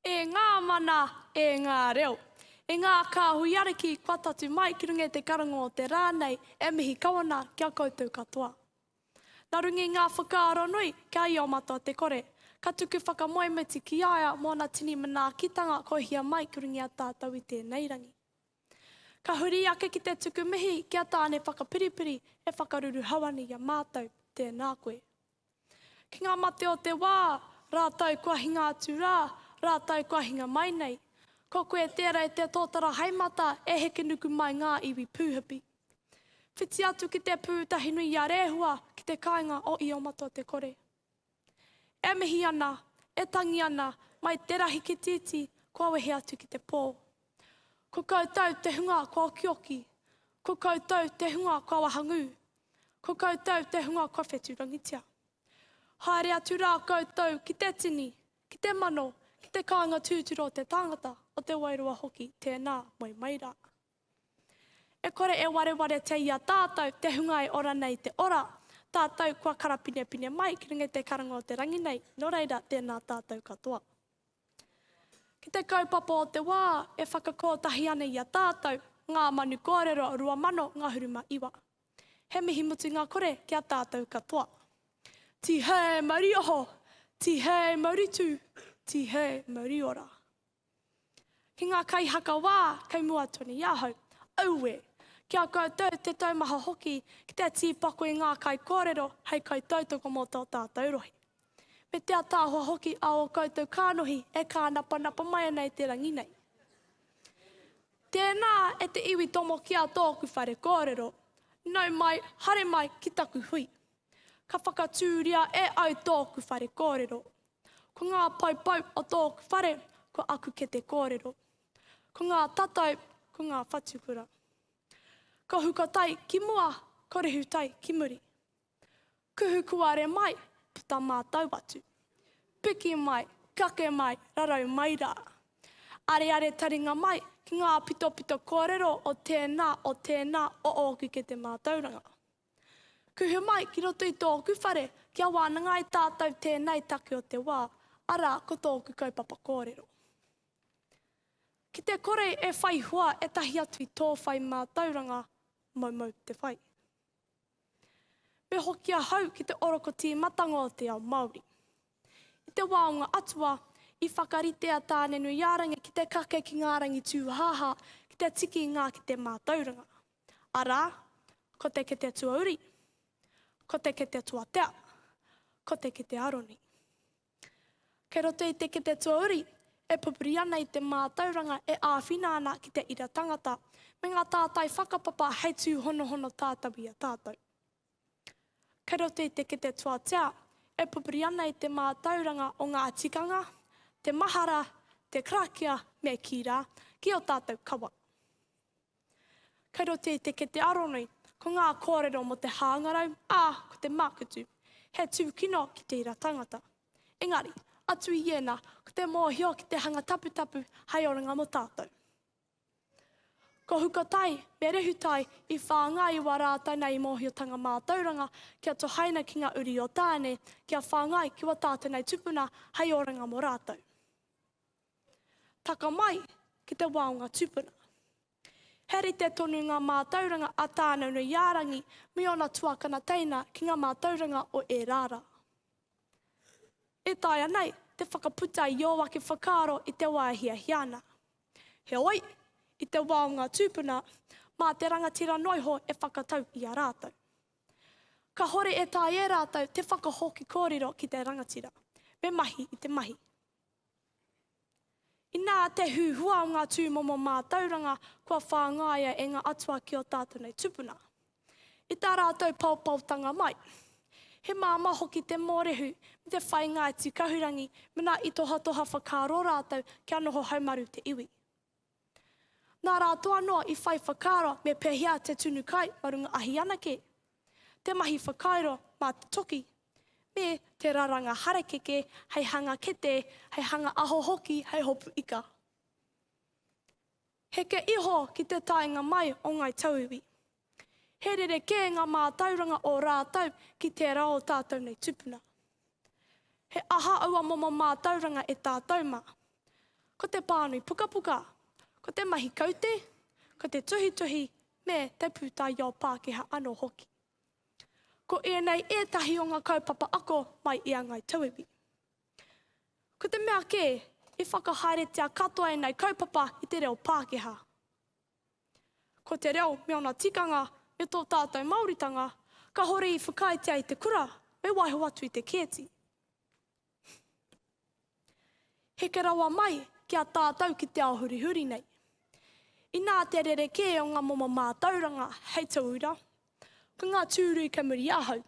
E ngā mana, e ngā reo. E ngā kāhui ariki kua tatu mai ki runga i te karango o te rā nei, e mihi kawana ki a koutou katoa. Na runga i ngā whakaaro nui, kia i o matua te kore, ka tuku whakamoemiti ki a ia mōna tini manaakitanga kohia mai ki runga i a tātou i tēnei rangi. Ka huri ake ki te tuku mihi ki a Tāne Whakapiripiri e whakaruruhau ana i a mātou, tēnā koe. Ki ngā mate o te wā, rātou kua hinga atu rā, rātou kua hinga mai nei. Ko koe tērā e te tōtara haemata e heke nuku mai ngā iwi pūhipi. Whiti atu ki te pū tahi nui i a Rehua ki te kāinga o Io-matua-te-kore. E mihi ana, e tangi ana, mai terahi ki titi kua wehe atu ki te pō. Ko koutou te hunga kua okioki, ko koutou te hunga kua wahangū, Ko koutou te hunga kua whetūrangitia. Haere atu rā koutou ki te tini, ki te mano, ki te kāinga tūturu o te tāngata, o te wairua hoki, tēnā, moe mai rā. E kore e warewaretia i a tātou te hunga e ora nei te ora, tātou kua karapinepine mai ki runga i te karanga o te rangi nei, nō reira, tēnā tātou katoa. Ki te kaupapa o te wā, e whakakōtahi ana i a tātou ngā manu kōrero 2000 ngahuru ma iwa. He mihi mutunga kore ki a tātou katoa. Tihei mauri oho, tihei mauri tū, tihei mauri ora. Ki ngā kaihaka wā kei mua tonu i ahau, aue! Ki a koutou te taumaha hoki ki te tīpako i ngā kaikōrero hei kaitautoko mō tō tātou rohe. Me te ataahua hoki a o koutou kānohi e kānapanapa mai ana i te rangi nei. Tēnā e te iwi tomo ki a tōku whare kōrero, nau mai, hare mai ki taku hui. Ka whakatūria e au tōku whare kōrero. Ko ngā poupou o tōku whare ko aku kete kōrero. Ko ngā tatau ko ngā whatukura. Ko Hukatai ki mua, ko Rehutai ki muri. Kuhu kuare mai, puta mātou atu. Piki mai, kake mai, rarau mai rā. Areare taringa mai ki ngā pitopito kōrero o tēnā, o tēnā, o ōku kete mātauranga. Kuhu mai ki roto i tōku whare kia wānanga ai tātou tēnei take o te wā, arā ko tōku kaupapa kōrero. Ki te kore e whai hua ētahi atu i tō whai mātauranga, moumou te whai. Pehoki ahau ki te oroko tīmatanga o te ao Māori. I te wā o ngā atua, i whakarite a Tānenuiārangi ki te kake ki ngā rangitūhāhā ki te tiki i ngā kete mātauranga, arā, ko te kete tuauri, ko te kete tuatea, ko te kete aroni. Kei roto i te kete tuauri e pupuri ana i te mātauranga e āwhina ana ki te ira tangata me ngā tātai whakapapa hei tūhonohono tātau i a tātau. Kei roto i te kete tuatea e pupuri ana i te mātauranga o ngā tikanga, te mahara, te karakia me kī rā, ki ō tātau kawa. Kei roto i te kete aronui, ko ngā kōrero mō te hāngarau, ā, ko te mākutu, he tūkino ki tēra tangata. Engari, atu i ēnā, ko te mōhio ki te hanga taputapu hai oranga mō tātou. Ko Hukatai me Rehutai i whāngai i wā rātou nei mōhiotanga mātauranga kia tohaina ki ngā uri o Tāne kia whāngai ki wā tātou nei tupuna hai oranga mō rātou. Taka mai ki te wao nga tupuna. He rite tonu nga mātauranga a Tāneunuiārangi me ona tuakana teina ki nga mātauranga o ērā rā. E taea nei te whakaputa i ō ake whakaaro i te wā e hiahia ana. Heoi, i te wao nga tupuna, mā te rangatira noiho e whakatau i a rātou. Kahore e taea e rātou te whakahoki kōrero ki te rangatira, me mahi i te mahi. Inā te huhua o ngā tūmomo mātauranga kua whāngaia e ngā atua ki ō tātou nei tupuna. I tā rātou paopaotanga mai, he māmā hoki te mōrehu me te whainga atu kahurangi mēnā i tohatoha whakaaro rātou kia noho haumaru te iwi. Nā rātoa noa i whai whakaaro me pehea te tunu kai ma runga ahi anake, te mahi whakairo mā te toki, me te raranga harakeke hei hanga kete, hei hanga aho hoki hei hopu ika. Heke iho ki te taenga mai o Ngai Tauiwi. He rerekē ngā mātauranga o rātou ki tērā o tātou nei tupuna. He aha aua momo mātauranga e tātou mā? Ko te pānui pukapuka, ko te mahi kaute, ko te tuhituhi me te pūtaiao Pākehā anō hoki. Ko ēnei ētahi o ngā kaupapa ako mai i a Ngāi Tauiwi. Ko te mea kē, i whakahaeretia katoa ēnei kaupapa i te reo Pākehā. Ko te reo me ona tikanga, me tō tātou Māoritanga, kahore i whakaaetia i te kura, me waiho atu i te kēti. Heke rawa mai ki a tātou ki te ao hurihuri nei. Inā te rerekē o ngā momo mātauranga hei tauira, ko ngā tūrui kei muri ahau,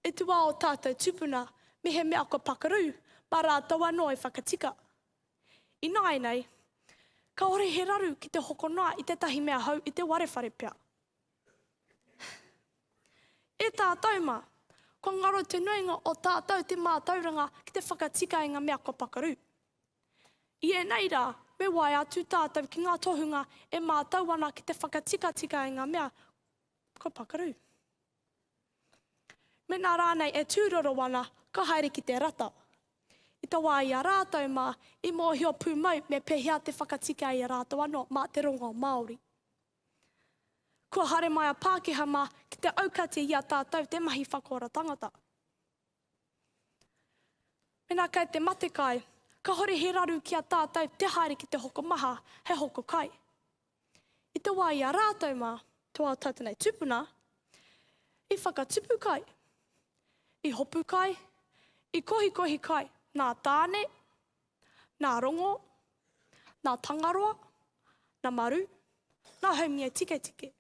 e tū ā o tātou tupuna mehemea kua pakaru, mā rātou anō e whakatika. Ināianei, kāore he raru ki te hoko noa i tētahi mea hou i te ware whare pea. E tātou mā, kua ngaro te nuinga o tātou te mātauranga ki te whakatika i ngā mea kua pakaru. I ēnei rā, me waea atu tātou ki ngā tohunga e mātau ana ki te whakatikatika i ngā mea kua pakaru. Mēnā rānei e tūroro ana, ka haere ki te rata. I te wā i a rātou mā, i mōhio pūmau me pēhea te whakatika i a rātou anō mā te rongo Māori. Kua haere mai a Pākehā mā ki te aukati i a tātou te mahi whakaora tangata. Mēnā kei te matekai, kāore he raru ki a tātou te haere ki te hokomaha hei hoko kai. I te wā i a rātou mā, tō ā tātou nei tūpuna, i whakatupu kai, i hopu kai, i kohikohi kai nā Tāne, nā Rongo, nā Tangaroa, nā Maru, nā Haumia Tiketike.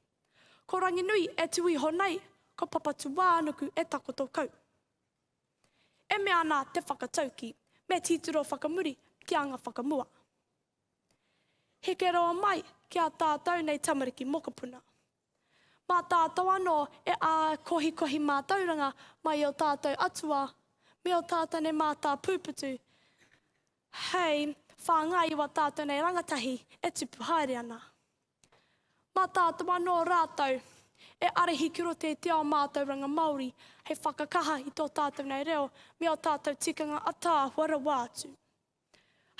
Ko Ranginui e tū iho nei, ko Papatūānuku e takoto kau. E mea ana te whakataukī, me tītiro whakamuri ki anga whakamua. Heke rawa mai ki a tātou nei tamariki mokopuna. Mā tātou anō e ākohikohi mātauranga mai i ō tātou atua me ō tātane mātāpūputu hei whāngai i wā tātou nei rangatahi e tupu haere ana. Mā tātou anō rātou e arihi ki roto i te ao mātauranga Māori hei whakakaha i tō tātou nei reo me ō tātou tikanga ataahua rawa atu.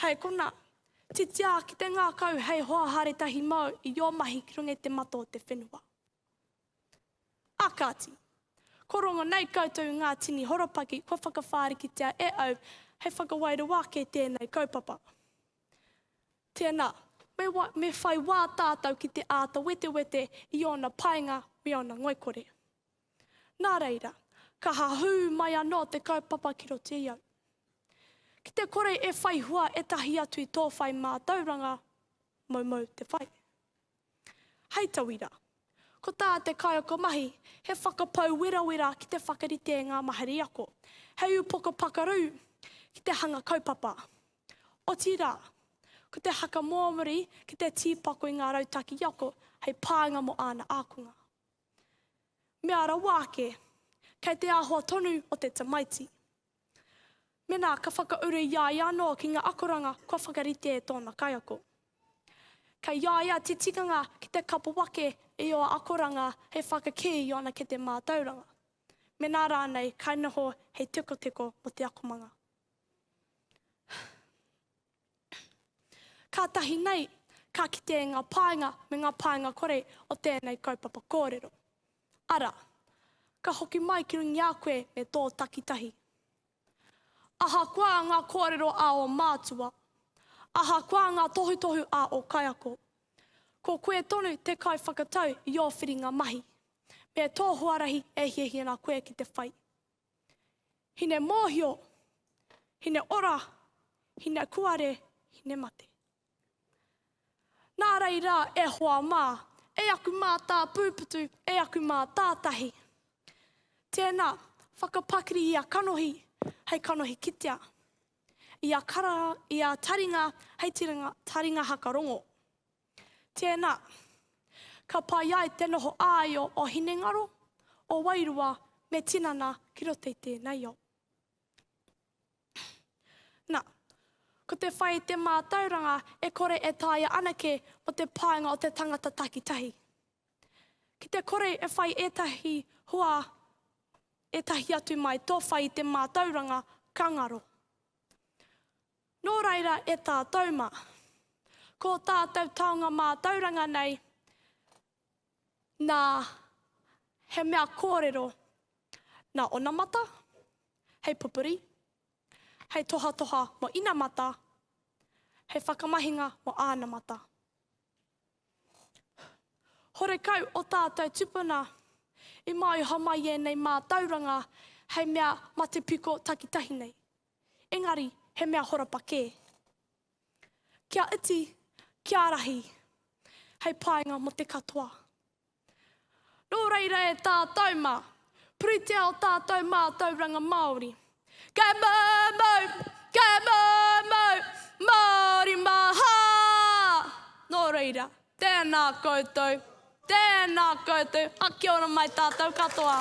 Hei konā, titia ki te ngākau hei hoa haere tahi māu i ō mahi ki runga i te mata o te whenua. Ā kāti, kua rongo nei koutou i ngā tini horopaki kua whakawhārikitia e au hei whakawairua ake i tēnei kaupapa. Tēnā, me, me whai wā tātou ki te āta wetewete i ōna painga me ōna ngoikore. Nā reira, ka hahū mai anō te kaupapa ki roto i au. Ki te kore e whai hua ētahi atu i tō whai mātauranga, moumou te whai. Hei tauira, ko tā te kaiako mahi he whakapau werawera ki te whakarite i ngā mahere ako, hei upoko pakaru ki te hanga kaupapa. Otirā, ko te haka mōmori ki te tīpako i ngā rautaki ako hei pānga mō āna ākonga. Mea rawa ake, kei te āhua tonu o te tamaiti. Mena ka whakauru i a ia anō ki ngā akoranga kua whakarite e tōna kaiako. Kei a ia te tikanga ki te kapo ake i ō akoranga hei whakakī i ōna kete mātauranga, mena rānei kainoho hei tekoteko mō te akomanga. Kātahi nei, ka kite ngā pānga me ngā pānga kore o tēnei kaupapa kōrero. Arā, ka hoki mai ki runga i a koe me tō takitahi. Ahakoa ngā kōrero a ō mātua, ahakoa ngā tohutohu a ō kaiako, ko koe tonu te kaiwhakatau i ō whiringa mahi, me tō huarahi e hiahia ana koe ki te whai. Hine mōhio, hine ora, hine kuare, hine mate. Nā reira, e hoa mā, e aku mātāpūputu, e aku mātātahi. Tēnā, whakapakiri ia kanohi hei kanohi kitea, ia karaha, ia taringa hei taringa hakarongo. Tēnā. Ka pai ai te noho āio o hinengaro, o wairua me tinana ki roto i tēnei ao. Nā, ko te whai i te mātauranga e kore e taea anake mō te paenga o te tangata takitahi. Ki te kore e whai ētahi hua ētahi atu mai tō whai i te mātauranga, ka ngaro. Nō reira e tātou mā. Ko tātou taonga mātauranga nei, nā, he mea kōrero nā onamata, hei pupuri, hei tohatoha mō inamata, hei whakamahinga mō ānamata. Horekau ō tātou tupuna i māioha mai ēnei mātauranga hei mea matepiko takitahi nei. engari he mea horapa kē. Kia iti, kia rahi, hei painga mō te katoa. Nō reira e tātou mā, puritia o tātou mātauranga Māori. Kei moumou, kei moumou, Māori maha! Nō reira, Tēnā koutou, tēnā koutou, a kia ora mai tātou katoa.